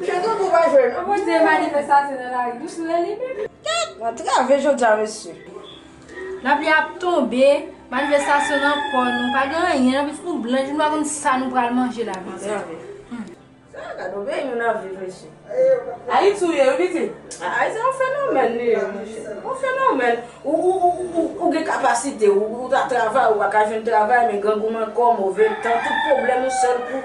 Msye Dodo pa jwe non. Bon Dieu manifestation nan lari dous vre li menm. Tet mwen trave jodia mesye. Lapli ap tonbe, manifestasyon nan kò nou, pa gen anyen nan bouch nou blanch nou pa konn sa nou pral manje la mizè. Sa gade yon peyi moun ap viv mesye. Ayiti ou ye wi pitit. Ayiti se yon fenomèn li ye mesye. Yon fenomèn. Ou gen kapasite ou ta travay ou pa ka jwenn travay men grangou nan kò, move tan, tout pwoblèm ou sèl pou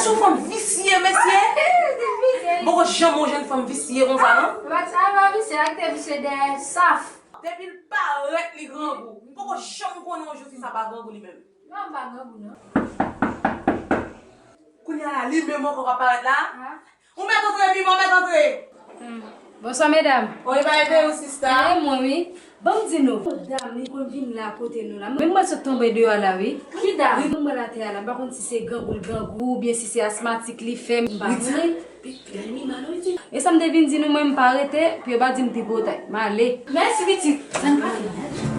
Sou fanm visye mesye. Mpoko janm wè jèn fanm visye konsa non. Mat sa pa visye lak te visye dèyè saf. Depil parèt li grangou. Mpoko janm konnen yon jou fi sa pa grangou li menm. Non mpa grangou non. Kounya la li menm ankò kap parèt la. Ou met antre pima ou met antre. Bonswa medam. Bon epa ede ou sista. Ede mwen wi. Banm di nou. Yon dam li konn vin la kote nou la. Menm mwen sot tonbe deyo a la wi. Ki dam? Li tonbe atè a la. M pa konn si se grangou l grangou ou byen si se asmatik li fè. M pa konnen. Gade mi mal wi ti. E sam te vin di nou mwen m pa rete pou yo pa dim tripotay. M ale. Mèsi pitit. Sa n pa fini.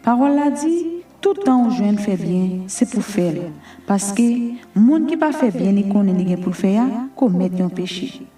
Pawòl la di, tout tan ou jwenn fè byen, se pou fè l, paske, moun ki pa fè byen li konnen li gen pou l fè a, komèt yon peche.